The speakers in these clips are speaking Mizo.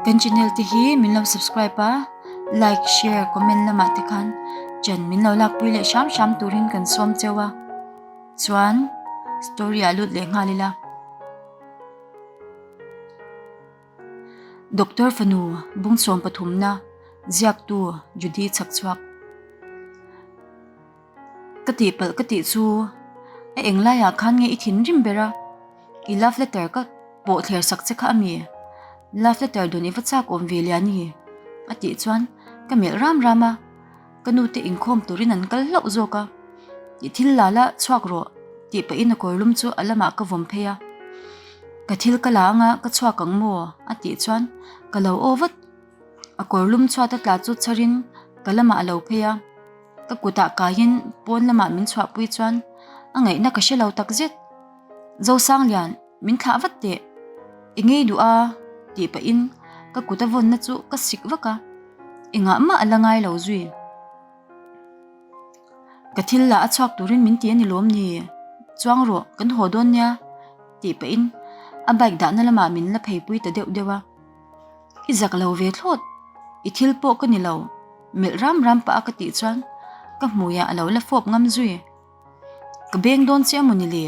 Kan channel te hi min lo subscribe a like share comment lamah te khan chan min lo lakpui leh hram hram turin kan sawm cheu a chuan story a lut leh nghal ila doctor fanu bung sawm pathumna ziak tu judy chak chuak Ka tihpalh ka tih chu a eng laiah khan nge i thin rim ber a, i love letter ka pawh thler sak che kha a mi? Love letter dun i va chak awm ve lian i? a tih chuan ka melh ram ram a, ka nu te inkhawm turin an kal hlauh zawk a, i thil lala chhuak rawh tih pahin a kawrlum chu a lamah ka vawm phei a, ka thil ka la anga ka chhuak ang maw a tih chuan ka lo aw vat. A kawrlum chhuata tla chu chharin ka lamah a lo phei a, ka kutah kaiin pawn lamah min chhuahpui chuan a ngaihna ka hre lo tak zet. Zosanglian, min thlah vat teh, i ngei duh a tih pahin ka kuta vawnna chu ka sik vak a, i ngah mah a la ngai lo zui. Ka thil lah a chhuak turin min ti a ni lawm ni? Chuang rawh, kan haw dawn nia tih pahin a bike dahna lamah min la pheipui ta deuh deuh a. I zak lo ve thlawt, i thil pawh ka ni lo, melh ram ram pah a ka tih chuan ka hmuiah a lo la fawp ngam zui. Ka beng dawn che a maw ni le?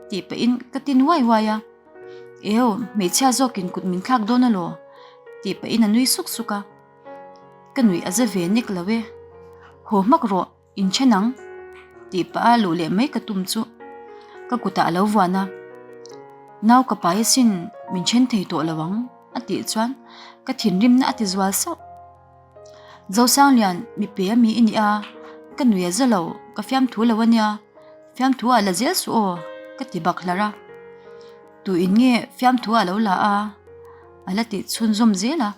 tih pahin ka ti nuai uai a. Eo, hmeichhia zawkin kut min thlak dawn alaw? tih pahin a nui suk suk a. Ka nuih a za ve nek lo e. Haw hmak rawh, In ṭhen ang tih pah a luh leh mai ka tum chu ka kutah a lo vuan a, Nau ka pai asin min ṭhen thei tawh lo ang a tih chuan ka thinrimna a ti zual sauh. Zosanglian mipe a mi i nih a, ka nuih a za lo, ka fiamthu lo a nia, fiamthu ah la zel suh aw ka ti bak hlar a, tuin nge fiamthu ah a lo la a? a la tih chhunzawm zel a.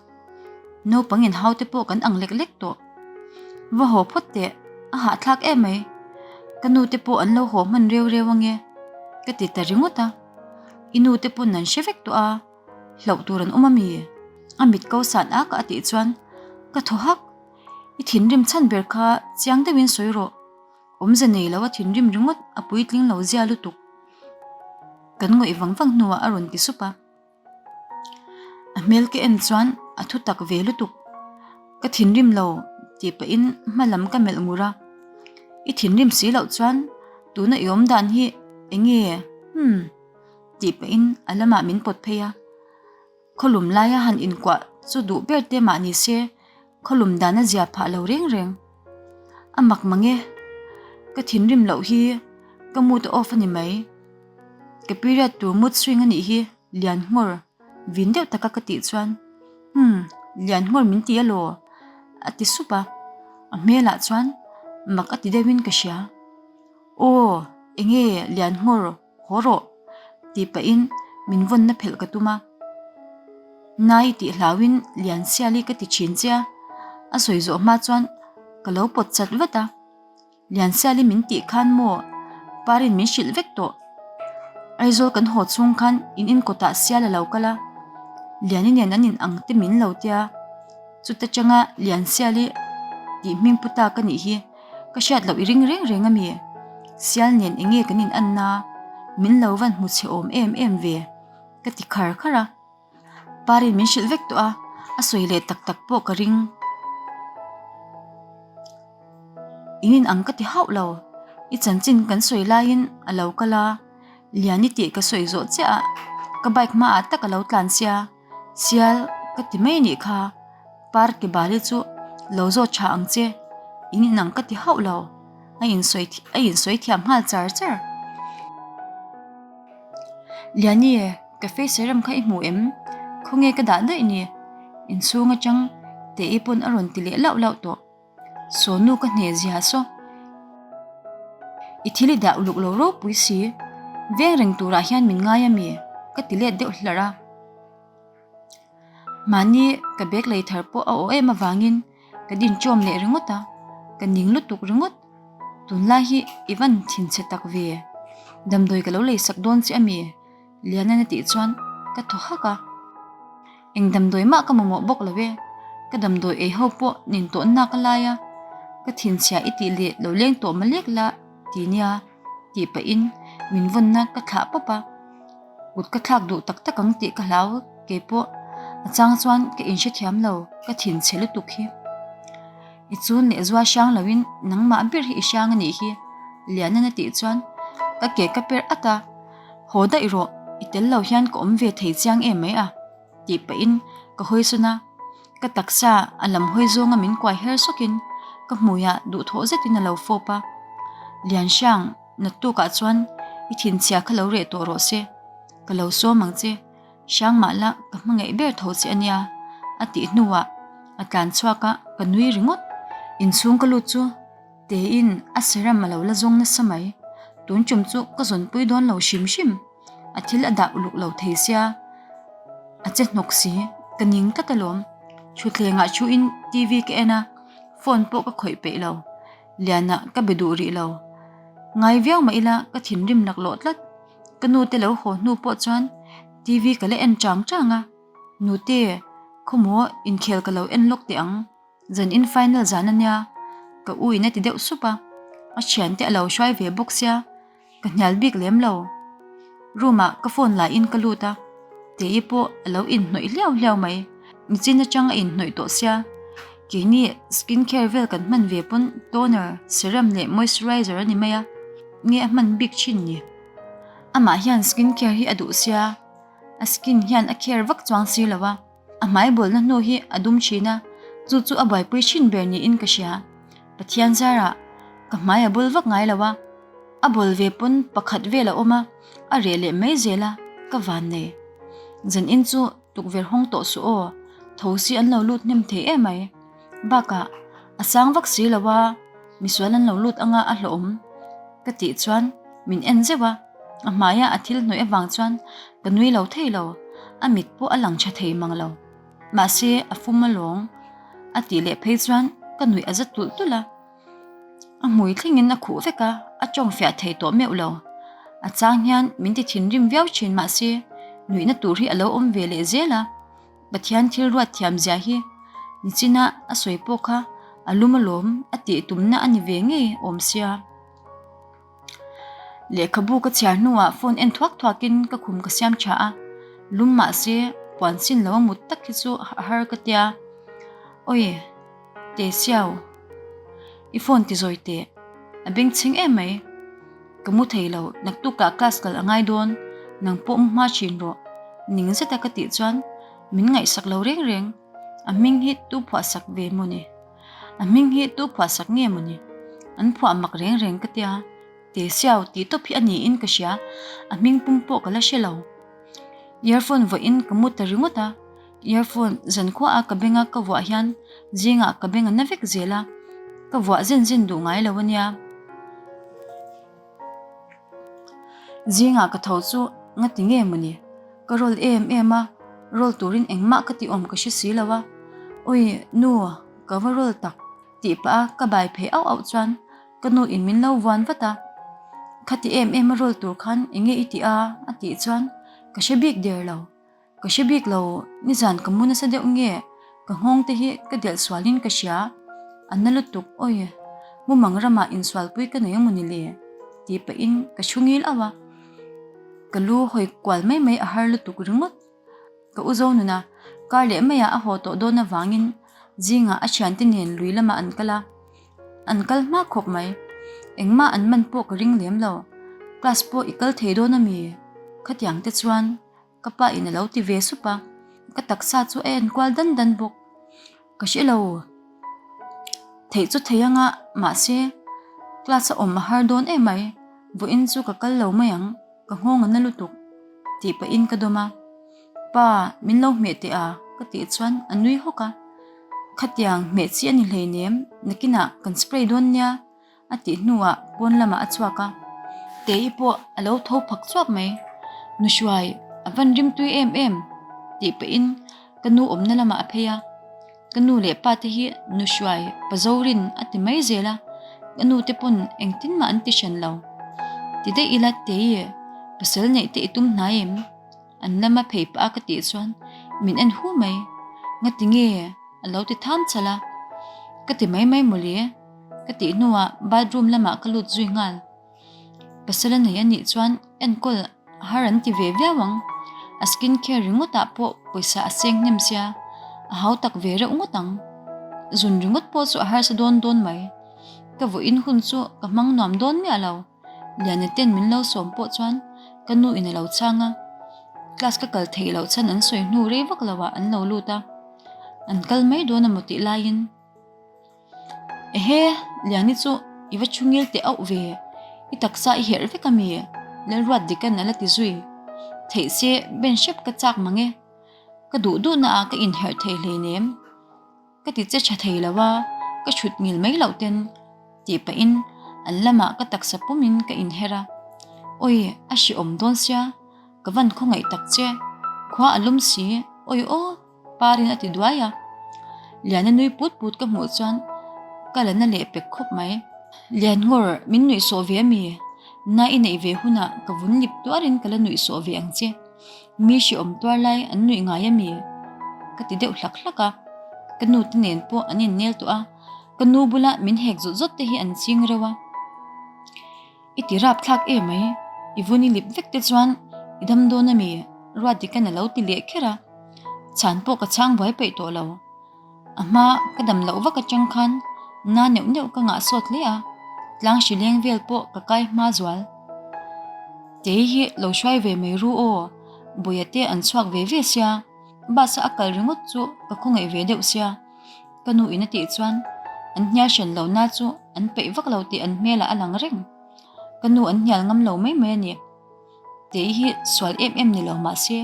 Naupang inhau te pawh kan ang lek lek tawh. Va haw phawt teh, a hahthlak em mai. Ka nu te pawh an lo haw hman reu reu ange. Ka ti ta ringawt a. I nu te pawn an hre vek tawh a, hlauh tur an awm a mi? A mit ko san a ka a tih chuan ka thaw hak. I thinrim chhan ber kha chiang deuh in sawi rawh. Awmze nei lo a thinrim ringawt a puitling lo zia lutuk kan ngawih vang vang hnuah a rawn ti sup a. A hmel ka en chuan a thu tak ve lutuk. Ka thinrim lo tih pahin hma lam ka melh ngur a, i thinrim si loh chuan tuna i awm dan hi eng nge hmm tih pahin a lamah min pawt phei a, khaw lum laia han inkuah chu duh ber te mah ni se, Khawlum dan a zia phah lo reng reng. A mak mange, ka thinrim loh hi ka mood a off a ni mai. Ka period tur mood swing a nih hi lian nghawr vin deuh taka ka tih chuan hmm lian nghawr min ti alaw a ti sup a. A hmelah chuan mak a ti deuhin ka hria. Aw enge lian nghawr? Haw rawh! tih pahin min vawnna phelh ka tum a, nai tih hlauhin lian siali ka ti thin che a, a sawi zawh hma chuan ka lo pawt chat vat a, lian siali min tih khan maw parin min hrilh vek tawh, Aizawl kan haw chhung khan in in kawtah sial a lo kal a, liani nen an in ang te min lo tia, chuta tanga lian siali tih hming puta ka nih hi. Ka hriat loh i ring reng reng a mi. Sial nen enge kan in an na, min lo van hmu chhe awm em em ve? Ka ti khar khar a. Parin min hrilh vek tawh a, a sawi leh tak tak pawh ka ring. In in ang ka ti hauh lo. I chanchin kan sawi lai in a lo kal a, lian i tih ka sawi zawh chiah a. Ka bike hma ah tak a lo tlan sia. Chial ka ti mai nih kha par ke bali chu lo zawt tha ang che in inang ka ti hauh lo a in sawi a in sawi thiam nghal char char Liani e ka face a rem kha i hmuh em khawnge ka dah daih ni inchhung atang te i pawn a rawn ti leh lauh lauh tawh. Sonu ka hne zia saw. I thil i dah uluk lo ropui si. Veng reng turah hian min ngai a mi? Ka ti let deuh hlarh a. Mahni ka bag lei thar pawh a aw em avangin ka din tawm leh ringawt a, ka ning lutuk ringawt. Tunlai hi i van thinchhe tak ve. Damdawi ka lo lei sak dawn che a mi? Liana'n a tih chuan ka thaw hak a, eng damdawi mah ka mamawh bawk lo e, ka damdawi ei ho pawh nin tawn nak a lai a, ka thinchhia i tih leh lo leng tawh malek la ti nia tih pahin min vawnna ka thlah pawp a, kut ka thlak duh tak tak ang tih ka hlau kei pawh a chang chuan ka in hre thiam lo ka thin chhe lutuk hi. I chun leh zua hrang lo in nangmah ber hi i hrang a nih hi Liana'n a tih chuan ka ke ka per at a. Haw daih rawh, i tel lo hian ka awm ve thei chiang em mai a? tih pahin ka hawisawn a, ka taksa a lam hawi zawnga min kuai her sawkin ka hmuia duhthawh zetin a lo fawp a, Lianhriang, nattukah chuan i thinchhiah kha lo reh tawh rawh se, ka lo sawm ang che, hrang mah la ka hmangaih ber tho che ania, a tih hnuah a tlan chhuak a, ka nui ringawt. Inchhung ka lut chu. Tein a seram a lo la zawng nasa mai. Tun ṭum chu ka zawnpui dawn lo hrim hrim. A thil a dah uluk lo thei sia. A che hnawk si, ka ning tlat alawm. Ṭhutthlengah ṭhuin TV ka en a, phone pawh ka khawih peih lo. Liana ka be duh rih lo. Ngai viau mah ila ka thinrim naklawh tlat. Ka nute lo haw hnu pawh chuan TV ka la en ṭang ṭang a. Nute, khawmuaw inkhel ka lo en lawk teh ang. Zan in final zan a nia, ka u in a ti deuh sup a, a thian te a lo hruai ve bawk sia, ka hnial bik lem lo. Room ah ka phone la in ka lut a, Tei pawh a lo in hnawih hliau hliau mai, nichin atang a in hnawih tawh sia, keini skin care vel kan hman ve pawn toner, serum leh moisturizer a ni mai a, nge a hman bik thin ni? Amah hian skin care hi a duh sia, a skin hian a care vak chuang si lo a. A hmaibawlhna hnu hi a dum thin a, chu chu a buaipui thin ber niin ka hria. Pathian zarah ka hmai a bul vak ngai lo a, a bawl ve pawn pakhat vel a awm a, a reh leh mai zel a, ka van nei. Zan in chu tukverh hawng tawh suh aw, thosi an lo lut hnem thei em mai. Bakah a sang vak si lo a, misual an lo lut anga a hlawhawm ka tih chuan min en zeuh a. A hmaiah a thil hnawih avang chuan ka nui lo thei lo, a mit pawh a lang tha thei mang lo. Mahse a fum alawng, a tih leh phei chuan ka nuih a za tulh tulh a. A hmui thlengin a khuh vek a, a tawngfiah thei tawh meuh lo. A chang hian min ti thinrim viau thin mahse nuihna tur hi a lo awm ve leh zel a. Pathian thil ruat thiam zia hi nichina a sawi pawh kha a lum alawm a tih tumna a ni ve ngei awm sia. Lehkhabu ka chhiar hnuah phone en thuak thuak in ka khum ka siam tha a, lum mah se puan sin lo a mut tak hi chu a har ka tia, Awi Tesiau, i phone ti zawi teh, a beng chhing em mai, ka mu thei lo, naktuk ah class kal a ngai dawn, nang pawh mu hma thin rawh, ning zet a ka tih chuan min ngaihsak lo reng reng, a hming hi Tuphuahsak ve maw ni? A hming hi tu phuahsak nge maw ni? An phuah mak reng reng ka tia, Te Siau tih tawp hi a ni in ka hria, a hming pum pawh ka la hre lo. Earphone vuah in ka mu ta ringawt a, earphone zan khua a ka beng a ka vuah hian zingah ka beng a na vek zel a, ka vuah zin zin duh ngai lo a nia. Zingah ka tho chu nga ti nge mawni? Ka rawl em em a, rawl turin engmah ka ti awm ka hre si lo a. Awi nu, ka va rawl tak tih pah a, ka bai phei auh auh chuan ka nu in min lo vuan vat a. Khati em em a rawl tur khan enge i ti a? a tih chuan ka hre bik der lo. Ka hre bik lo, nizan ka mu nasa deuh nge, ka nghawng te hi ka delh sualin ka hria, a na lutuk awi, mumang ramah insualpui ka nei a muni le? tih pahin ka thu ngil auh a, ka lu hawi kual mai mai a har lutuk ringawt. Ka uzo nuna kar leh maiah a haw tawh dawn avangin zingah a thiante nen lui lamah an kal a, an kal hma khawp mai, engmah an man pawh ka ring lem lo, class pawh i kal thei dawn ami khatiang te chuan, Ka pa in a lo ti ve sup a, ka taksa chu a enkual dan dan bawk. Ka hre lo, theih chu thei ang a, mahse class a awm a har dawn em mai, vawiin chu ka kal lo mai ang, ka nghawng a na lutuk, tih pahin ka dawm a. Pa, min lo hmeh teh a? ka tih chuan a nui hawk a, khatiang hmeh chi a ni hleinem, nakinah kan spray dawn nia. a tih hnuah pawn lamah a chhuak a, Tei pawh a lo tho phak chhuak mai. Nuhruai a van rim tui em em tih pahin ka nu awmna lamah a phei a. Ka nu leh pa te hi Nuhruai pa Zorin a ti mai zel a, ka nu te pawn engtin mah an ti hran lo. Ti daih ila Tei, pasal neih te i tum hna em? An lama phei pah a ka tih chuan min en hu mai. Ngati nge a lo ti tham chal a, ka ti mai mai mawle. Ka tih hnuah bathroom lamah ka lut zui nghal. Pasal a nei a nih chuan enkawl har an ti ve viau ang. A skin care ringawtah pawh pawisa a seng hnem sia. A hau tak ve reuh ngawt ang. Zun ringawt pawh chu a harsa dawn dawn mai. Ka vawiin hun chu ka hmang nuam dawn miah lo. Liana ten min lo sawm pawh chuan ka nu in a lo chang a. Class ka kal theih loh chhan an sawi hnu rei vak lohah an lo lut a. An kal mai dawn a mawtih laiin. Ehe, Liani chu i va thu ngil teh auh ve, i taksa i herh vek a mi? Lalruat dikan a la ti zui. Theih se, Ben hrep ka chak mang e. Ka duh duhna ah ka inherh thei hleinem. Ka ti che tha thei lo a, ka chhut ngil mai loh ten, tih pahin an lamah ka taksa pum in ka inherh a. Awi, a hreawm dawn sia, ka van khawngaih tak che. Khua a lum si, awi aw. Parin a ti duai a, Liana nui put put ka hmuh chuan ka la na leh pek khawp mai. Lianngawr, min nuihsawh ve a mi? Na i neih ve hunah ka vun lip tuarin ka la nuihsawh ve ang che. Mi hri awm tuar lai an nuih ngai a mi? Ka ti deuh hlak hlak a. Ka nute nen pawh an innel tawh a, ka nu bula min hek zawt zawt te hi an ching reuh a. I ti rap thlak e mai. I vun i lip vek te chuan i dam dawn a mi ruat dik hian a lo ti leh kher a, chhan pawh ka chhang buai peih tawh lo. A hma ka dam loh vak atang khan na neuh neuh ka ngah sawt hle a, tlang hri leng vel pawh ka kai hma zual. Kei hi lo hruai ve mai ru aw, buaia te an chhuak ve ve sia, bus a a kal ringawt chu ka khawngaih ve deuh sia. Ka nu in a tih chuan an hnial hran lo na chu an peih vak lo tih an hmel ah a lang reng. Ka nu an hnial ngam lo mai mai a ni. Tei hi sual em em ni lo mah se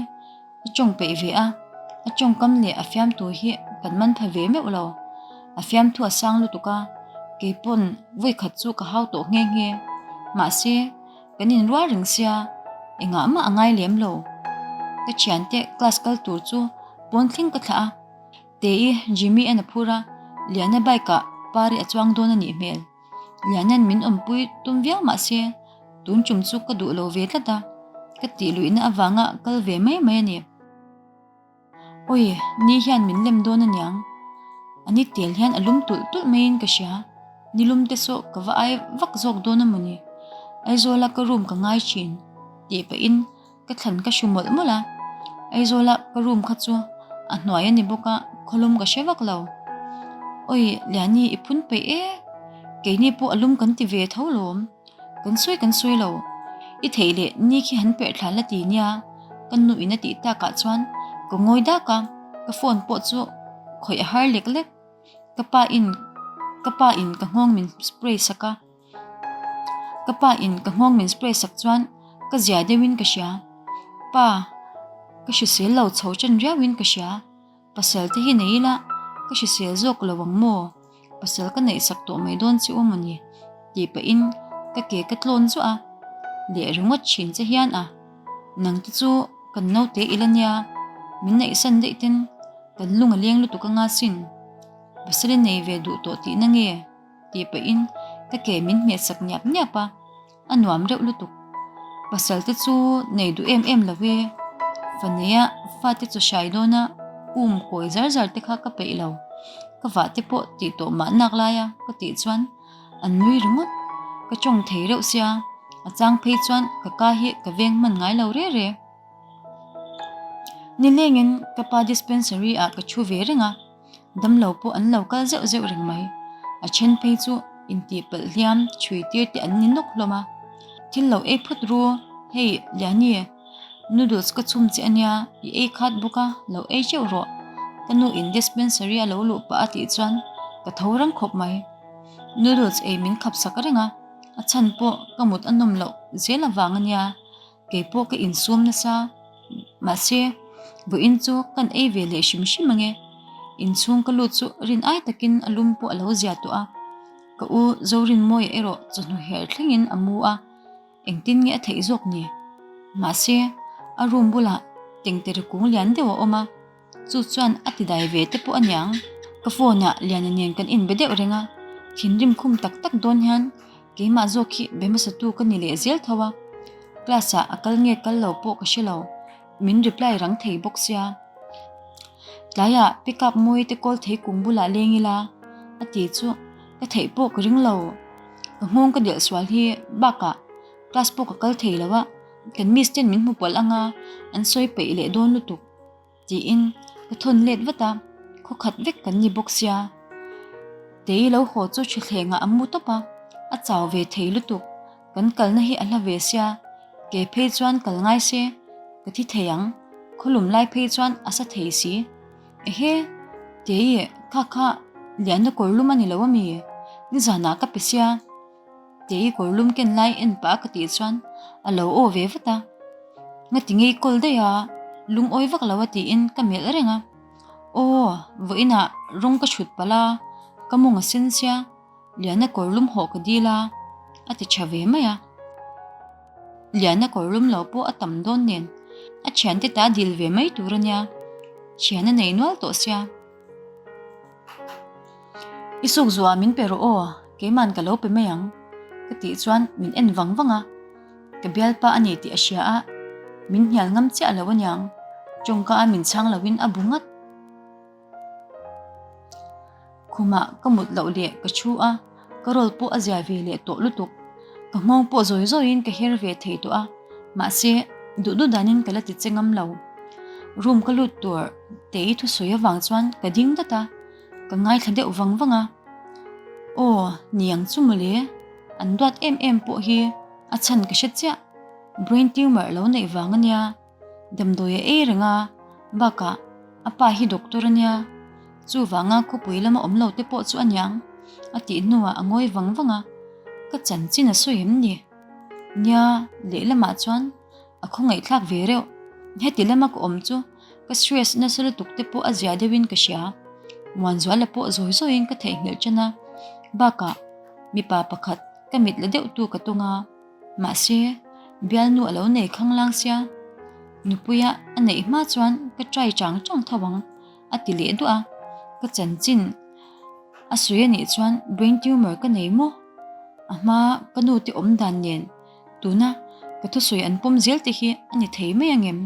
a tawng peih ve a, a tawng kam leh a fiam tur hi kan man pha ve meuh lo. A fiam thu a sang lutuk a, kei pawn vawi khat chu ka hau tawh nghe nghe. Mahse, kan in rual reng sia, engah mah a ngai lem lo. Ka thiante class kal tur chu pawn tling ka thlah a. Te i, Jimmy a na phur a, Liana bike ah par i a chuang dawn a nih hmel. Liana'n min awmpui tum viau mah se, tun tum chu ka duh lo ve tlat a, ka tih luihna avanga kal ve mai mai a ni. Awi, ni hian min lem dawn a niang. A ni tel hian a lum tulh tulh maiin ka hria, ni lum te saw ka va ai vak zawk dawn a maw ni. Aizawla ka room ka ngai thin, tih pahin. ka thlan ka hru mawlh mawlh a Aizawla ka room kha chu a hnuai a ni bawk a khawlum ka hre vak lo Awi Liani i phun peih e keini pawh alum kan ti ve tho lawm kan sawi kan sawi lo i theih leh ni khi han perh thlan la ti nia ka nu in a tih tak ah chuan ka ngawi dak a ka phone pawh chu khawih a har lek lek ka pa in ka pa in ka nghawng min spray sak a. Ka pa in ka nghawng min spray sak chuan ka zia deuh in ka hria. Pa, ka hrisel lo chho chen riau in ka hria. Pasal te hi nei ila ka hrisel zawk lo ang maw? Pasal ka neih sak tawh mai dawn che awm a ni. Tih pah in ka ke ka tlawn zuah a, leh ringawt thin che hian a, nang te chu kan naute ila nia, min neih san daih ten kan lung a leng lutuk anga sin. Pasal i nei ve duh tawh tihna nge? tih pahin ka ke min hmehsak niap niap a, a nuam deuh lutuk. Pasalte chu nei duh em em lo e, fa neia fate chaw hrai dawna um kawi zar zar te kha ka peih lo, ka vah te pawh tih tawh mah nak laia ka tih chuan an nui ringawt. Ka tawng thei reuh sia, a chang phei chuan ka ka hi ka veng hman ngai lo reh reh. Nilengin ka pa dispensary ah ka thu ve reng a. Damlo pawh an lo kal zeuh zeuh reng mai. A then phei chu intih palh hliam, chhui tir te an ni nawk hlawm a. Thil lo ei phut ru, hei Liani, noodles ka chhum che a nia, i ei khat bawk a, lo ei teuh rawh. Ka nu in dispensary a lo luh pah a tih chuan ka tho reng khawp mai. Noodles ei min khap sak reng a, a chhan pawh ka mut a nawm loh zel avang a nia. Kei pawh ka insum nasa, mahse, vawiin chu kan ei ve leh hrim hrim ange. Inchhung ka lut chu rin ai takin a lum pawh a lo zia tawh a. Ka u Zorinmawia erawh chawhnu herh thlengin a mu a, engtin nge a theih zawk ni? Mahse, a room bulah tengtere kung lian deuh a awm a. Chu chuan a ti dai ve te pawh a niang. Ka phone ah Liana nen kan inbe deuh reng a, thinrim khum tak tak dawn hian keimah zawk hi bemasatu ka ni leh zel tho a, class ah a kal nge kal lo pawh ka hre lo, min reply rang thei bawk sia. Tlaiah pick up mawi te call thei kung bulah leng ila a ti chu ka theih pawh ka ring lo. Ka nghawng ka delh sual hi bak ah class pawh ka kal thei lo a, kan miss ten min hmu pawlh anga an sawi peih leh dawn lutuk. Tiin ka thawn let vat a, khaw khat vek kan ni bawk sia. Tei lo haw chu thuthleng ah a mu tawp a, a chau ve thei lutuk. Kan kalna hi a hla ve sia, ke phei chuan kal ngai se, ka thi thei ang, khaw lum lai phei chuan a sa thei si. Ehe, Tei, kha kha lianna kawr lum a ni lo a mi? Nizanah ka pe sia. Teh i kawr lum ken lai en pah a ka tih chuan a lo aw ve vat a, nga ti ngei kawl daih a, lung awi vak lo a tiin ka melh reng a, aw vawi inah rawng ka thut palh a, ka mawng a sen sia, Liana kawr lum hawh ka dil a, a ti tha ve mai a. Liana kawr lum lo pawh a tam dawn nen a thiante ta dil ve mai tur a nia, thian a nei nual tawh sia. I suk zua min pe rawh aw, keiman ka lo pe mai ang, ka tih chuan min en vang vang a, ka bialpa a ni tih a hria a, min hnial ngam chiah lo a niang, chawngka a min chhang lo in a bu ngat. Khumah ka mut loh leh ka thu a. Ka rawl pawh a ziah ve leh tawh lutuk. Ka nghawng pawh zawi zawiin ka her ve thei tawh a, mahse, duh duh danin ka la ti che ngam lo. Room ka lut tur tei thusawi avang chuan ka ding dat a, ka ngaithla deuh vang vang a. Aw, niang chu mawle, an duat em em pawh hi a chhan ka hre chiah. Brain tumor lo neih vang a nia. Damdawi a ei reng a, bakah a pa hi doctor a nia, chuvanga khawpui lama awm lo te pawh chu a niang a tih hnuah a ngawi vang vang a, ka chanchin a sawi em ni? Nia leh lamah chuan a khawngaihthlak ve reuh, heti lama ka awm chu ka stress nasa lutuk te pawh a ziah deuhin ka hria, muanzual la pawh zawi zawiin ka theihnghilh ṭan a, bakah mipa pakhat ka mit la deuhtu ka tawng a. Mahse, Bialnu a lo nei khang lang sia, Nupuia a neih hma chuan ka try chang chang tho ang, a ti leh duah a. Ka chanchin a sawi anih chuan brain tumor ka nei maw? A hma ka nu te awm dan nen tuna ka thusawi an pawm zel te hi a ni thei mai angem?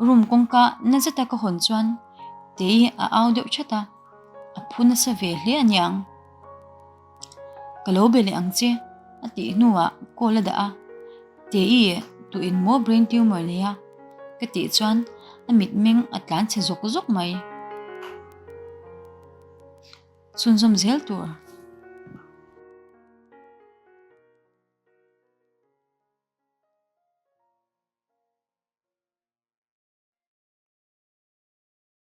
Room kawngka na zeta ka hawn chuan Tei a au deuh chat a, a phu nasa ve hle aniang. Ka lo be leh ang che, a tih hnuah call a dah a. Te i tu in maw brain tumor nei a? Ka tih chuan a mitmeng a tlan chhe zawk zawk mai. Chhunzawm zel tur.